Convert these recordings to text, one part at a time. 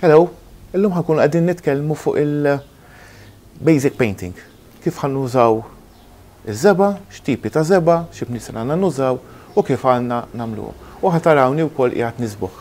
Hello, illum ħankunu qegħdin nitkellmu fuq il-basic painting. Kif ħan nużaw iż-żeba, x'tipi ta' żeba, xi bniesen għandna nużaw u kif għandna nagħmluhom. U ħatarawni wkoll qiegħed nisbuħ.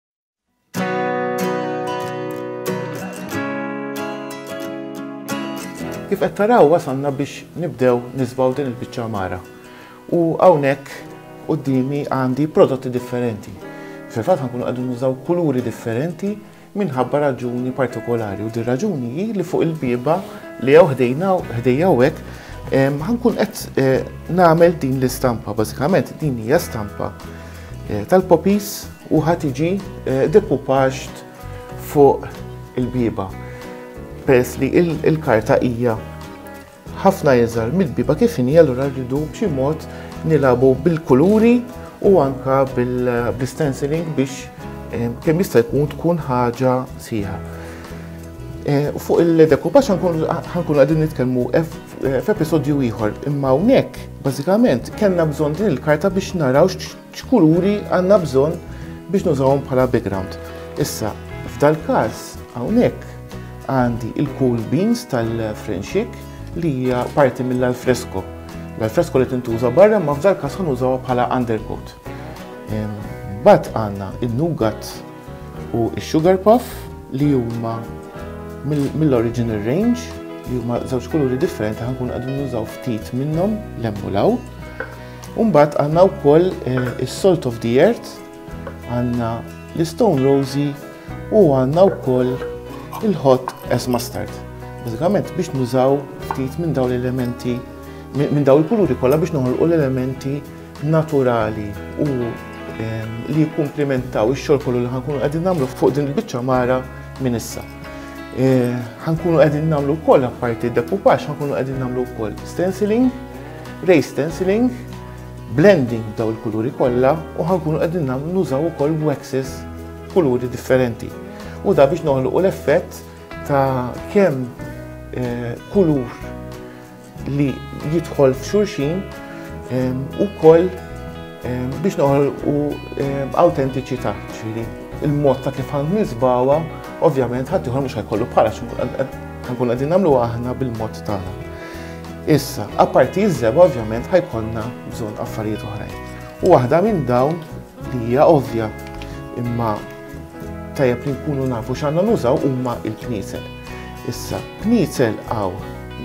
Kif qed taraw wasalna biex nibdew nisbaw din il-biċċa mara. U hawnhekk qudiemi għandi prodotti differenti. Fil-fatt ħankunu qegħdin nużaw kuluri differenti minħabba raġuni partikolari u din raġuni hi li fuq il-biba li jew ħdejna ħdejja hekk ħankun qed eh, nagħmel din l-istampa bażikament din hija stampa Eh, tal-popis u ħatiġi eh, dekupaġt fuq il-biba. Peress li il-karta hija ħafna iżgħar mill-biba kif inhi allura rridu b'xi mod nilabu bil-kuluri u anka bil-stenciling biex eh, kemm jista' jkun tkun ħaġa sieħa. Fuq il-dekupaġ ħankun għadin nitkellmu f'episodju ieħor imma hawnhekk Bażikament kellna bżonn din il-karta biex naraw x'kuluri għandna bżonn biex nużawhom bħala background. Issa, f'dal-każ hawnhekk għandi il-cool beans tal-Frenxik li hija parti mill-alfresko. L-alfresko li tintuża barra ma f'dal-każ ħanużawha bħala undercoat. Bat għandna il-nugat u x-Sugar Puff li huma mill-Original Range li huma żewġ kuluri differenti ħankun qegħdin nużaw ftit minnhom lemm u law. Umbagħad għandna wkoll eh, is-Salt of the Earth, għandna l-Stone Rosy u għandna wkoll il-Hot as Mustard. Bażikament biex nużaw ftit minn dawn l-elementi minn dawn il-kuluri kollha biex noħolqu l-elementi naturali u li jikkumplimentaw ix-xogħol kollu li ħankunu qegħdin nagħmlu fuq din il-biċċa mara minn issa. Eh, ħankunu qegħdin nagħmlu wkoll apparti dekupax, ħankunu qegħdin nagħmlu wkoll stenciling, ray stenciling, blending daw il-kuluri kollha u ħankunu qegħdin nagħmlu nużaw ukoll waxes kuluri differenti. U da biex noħluqu l-effett ta' kemm eh, kulur li jidħol f'xulxin ehm, u koll ehm, biex noħol u ehm, autentiċità ċili. Il-mod ta' kif għand nisbawa, ovvjament ħadd ieħor mhux ħajkollu bħala ħankun qegħdin nagħmlu aħna bil-mod tagħna. Issa, apparti iż-żeb ovvjament ħajkonna bżonn affarijiet oħrajn. U waħda minn dawn li hija ovvja imma tajjeb li nkunu nafu x'għandna nużaw huma l-kniezel. Issa, kniezel għaw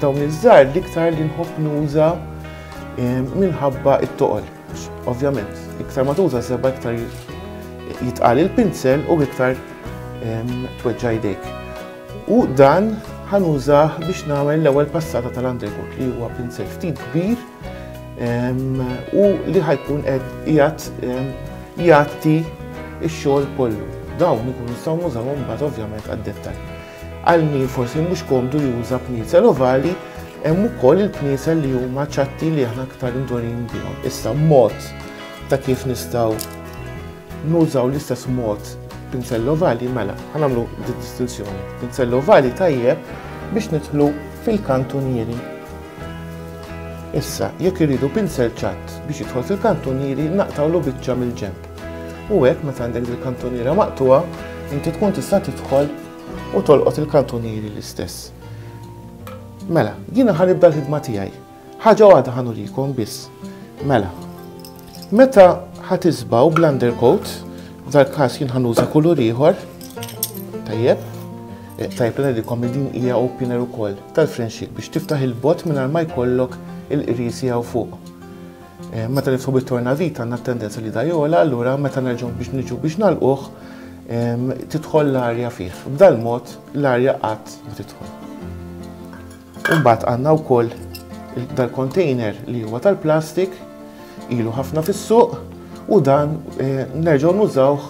dawn iż-żar l-iktar li nħobb nuża eh, minħabba it-toqol. Ovvjament, iktar ma tuża seba iktar jitqal il-pinsel u iktar ehm, tweġġa jdejk. U dan ħanużah biex nagħmel l-ewwel passata tal-undercoat li huwa pinsel ftit kbir u li ħajkun qed jgħat jgħatti x-xogħol kollu. Dawn ikun nistgħu nużaw mbagħad ovvjament għad-dettal. Għal min forsi mhux komdu juża pniezel ovali, hemm ukoll il-pniezel li huma ċatti li aħna aktar indorin bihom. Issa mod ta' kif nistgħu nużaw l-istess mod pinzell ovali mela, ħanamlu distinzjoni. Pinzell ovali tajjeb biex nidħlu fil-kantunieri Issa, jekk irridu pinsel ċatt biex jidħol fil-kantunieri, naqtgħulu biċċa mill-ġenb. U hekk meta għandek dil-kantuniera maqtugħa, inti tkun tista' tidħol u tolqot il-kantunieri l-istess. Mela, jiena ħa nibda l-ħidma tiegħi. Ħaġa waħda ħa nurikom biss. Mela, Meta ħa tisbaw bl-undercoat, f'dal każ jien ħanuża kulur ieħor. Tajjeb. Eh, tajjeb li ngħidilkom li din hija opener ukoll tal-frenxik biex tiftaħ il-bot mingħajr ma jkollok il-qrisi hawn fuq. Eh, meta nifsu bit-torna vita għandna tendenza li dajola, allura meta nerġgħu biex niġu biex nalquh tidħol l-arja fih. B'dal mod l-arja qatt ma tidħol. Imbagħad għandna wkoll dal-container li huwa tal-plastik, ilu ħafna fis-suq u dan eh, nerġgħu nużawh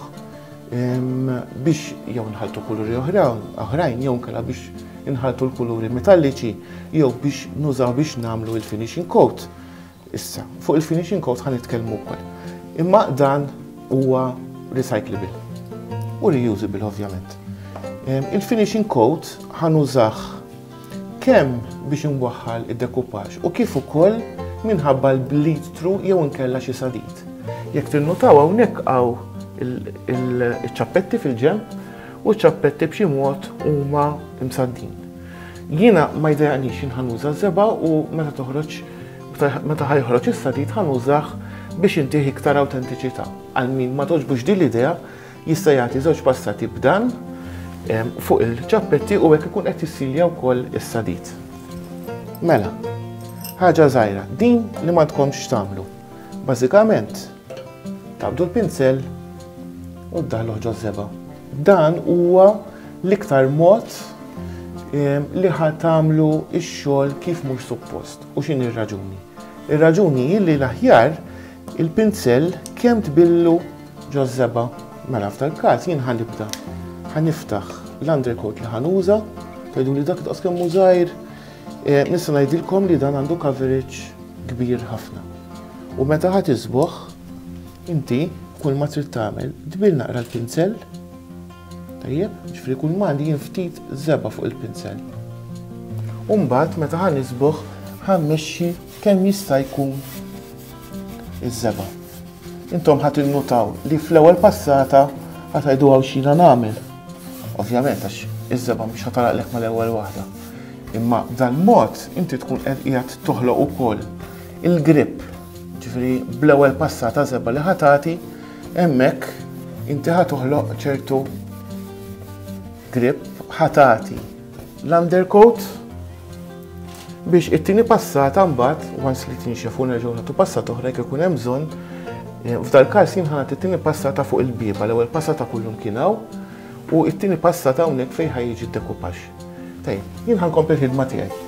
biex jew nħaltu kuluri oħrajn jew kella biex inħaltu l-kuluri metalliċi jew biex nużaw biex nagħmlu il-finishing coat. Issa, fuq il-finishing coat ħan nitkellmu wkoll. Imma dan huwa recyclable u reusable ovvjament. Il-finishing coat ħan użaħ kemm biex inwaħħal id-dekupaġġ u kif ukoll minħabba l-bleed through jew inkella xi sadid. Jekk tinnutaw hawnhekk hawn il-ċappetti fil-ġenb u ċappetti b'xi mod huma msaddin. Jiena ma jdejaqnix jien ħanuża żeba u meta toħroġ meta ħajħroġ is-sadid ħanużah biex intih iktar awtentiċità. Għal min ma toġbux din l-idea jista' jagħti żewġ passati b'dan fuq il-ċappetti u hekk ikun qed jissilja wkoll is-sadid. Mela, ħaġa żgħira, din li ma tkomx tagħmlu. Bażikament, tabdu l-pinsel u ddaħlu ġoż żeba. Dan huwa l-iktar mod ehm, li ħa tagħmlu x-xogħol kif mhux suppost u x'in ir-raġuni. Ir-raġuni hi li l-aħjar il-pinzell kemm tbillu ġożżeba mela f'tal każ jien ħanibda. Ħaniftaħ l-undercoat li ħanuża, tgħidu li dak daqs kemm żgħir, eh, nista' ngħidilkom li dan għandu coverage kbir ħafna. U meta ħadd isbuħ, Inti kulma trid tagħmel, tbill naqra l-pinsell, tajjeb, ġifieri kulma għandi jien ftit żebgħa fuq il-pinsell. U mbagħad meta ħa nisbugħ ħa mmexxi kemm jista' jkun iż-żebgħa. Intom ħa tinnutaw li fl-ewwel passata ħa tgħidu hawn x'jiena nagħmel. Ovvjament għax iż-żebgħa mhux ħa taraqlek mal-ewwel waħda. Imma b'dal-mod inti tkun qed qiegħed toħloq ukoll il-grip Ġifieri bl-ewwel passata żebgħa li ħa tagħti, hemmhekk inti ħa toħloq ċertu grip ħa tagħti l-undercoat biex it-tieni passata mbagħad once li tinxef u nerġgħu nagħtu passata oħra jekk ikun hemm bżonn eh, f'dal-każ jien ħanat it-tieni passata fuq il-bieba l-ewwel passata kullum kien hawn u it-tieni passata hawnhekk fejn ħaj jiġi dekupax. Tajjeb, jien ħankompli l-ħidma tiegħi.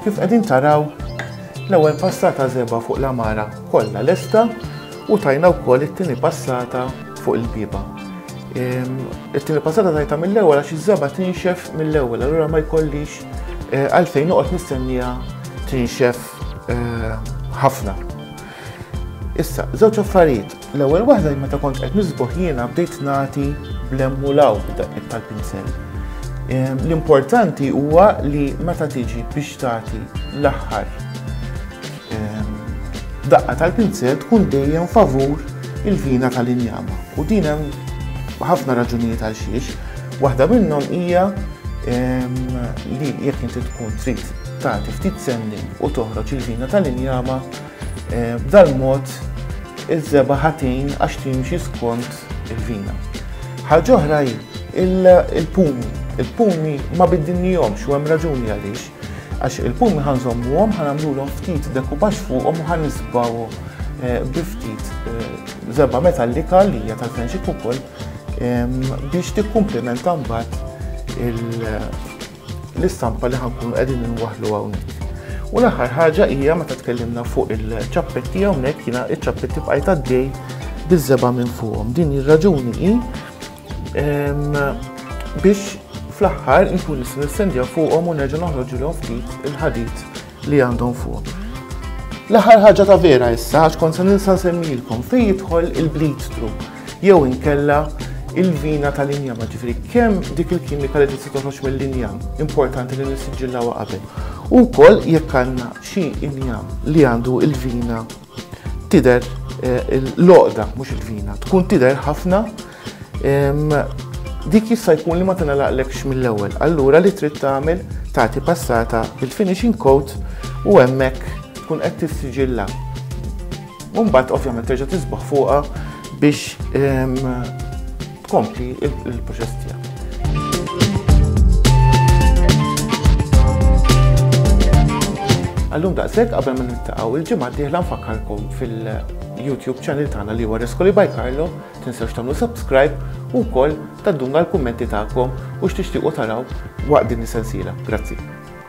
Kif qegħdin taraw l-ewwel passata żeba fuq l-amara kollha lesta u tajna wkoll it-tieni passata fuq il-biba. Ehm, it-tieni passata tajta mill-ewwel għax iż-żeba tinxef mill-ewwel, allura ma jkollix Eh, għalfejn noqgħod nistennija tinxef eh, ħafna. Issa, żewġ affarijiet. L-ewwel waħda meta kont qed nisbuħ jiena bdejt nagħti blemmu law b'daqqiet tal-pinsel. Eh, l-importanti huwa li meta tiġi biex tagħti l-aħħar Daqqa tal-pinzell tkun dejjem favur il-vina tal-injama u din hemm ħafna raġunijiet għal xiex. Waħda minnhom hija li jekk inti tkun trid tagħti ftit sennin u toħroġ il-vina tal-injama b'dal mod il-żeba ħatin għax timxi skont il-vina. Ħaġa oħra il-pumi. Il-pumi ma biddinni jomx u hemm raġuni għaliex. Għax il-pumi ħa nżommuhom, ħa nagħmluhom ftit dekupax fuqhom u ħa nisbgħuhom eh, bi ftit żebba eh, metallika li hija tal-fenxik ukoll biex tikkumplimenta mbagħad l-istampa li ħankun qegħdin inwaħlu hawnhekk. U l-aħħar ħaġa hija meta tkellimna fuq il-ċappetti hawnhekk jiena iċ-ċappetti bqajt għaddej biż-żeba' minn fuqhom. Din ir-raġuni hi Biex fl-aħħar nkun nista' nistendja fuqhom u nerġa' noħroġilhom ftit il-ħadid li għandhom fuq. L-aħħar ħaġa ta' vera issa għax kont se ninsa nsemmilkom fejn jidħol il-bleed through jew inkella il-vina tal-injama ġifri kemm dik il-kimika li tista' toħroġ mill-injam importanti li nissiġillawha qabel. U wkoll jekk għandna xi injam li għandu il-vina Tidher l-għoqda, mhux il-vina, tkun tidher ħafna dik jista' jkun li ma tingħalaqlekx mill-ewwel. Allura li trid tagħmel tagħti passata bil-finishing coat u hemmhekk tkun qed tissiġilla. Mbagħad ovvjament terġa' tisbaħ fuqha biex Kompli il-proċess tiegħek. Għallum daqshekk qabel ma niltaqgħu il-ġimgħa d-dieħla nfakkarkom fil-YouTube channel tagħna li huwa Reskoli by Carlo, tinsewx tagħmlu subscribe u wkoll tadduna l-kummenti tagħkom u x'tixtiequ taraw waqt din is-sensiela. Grazzi.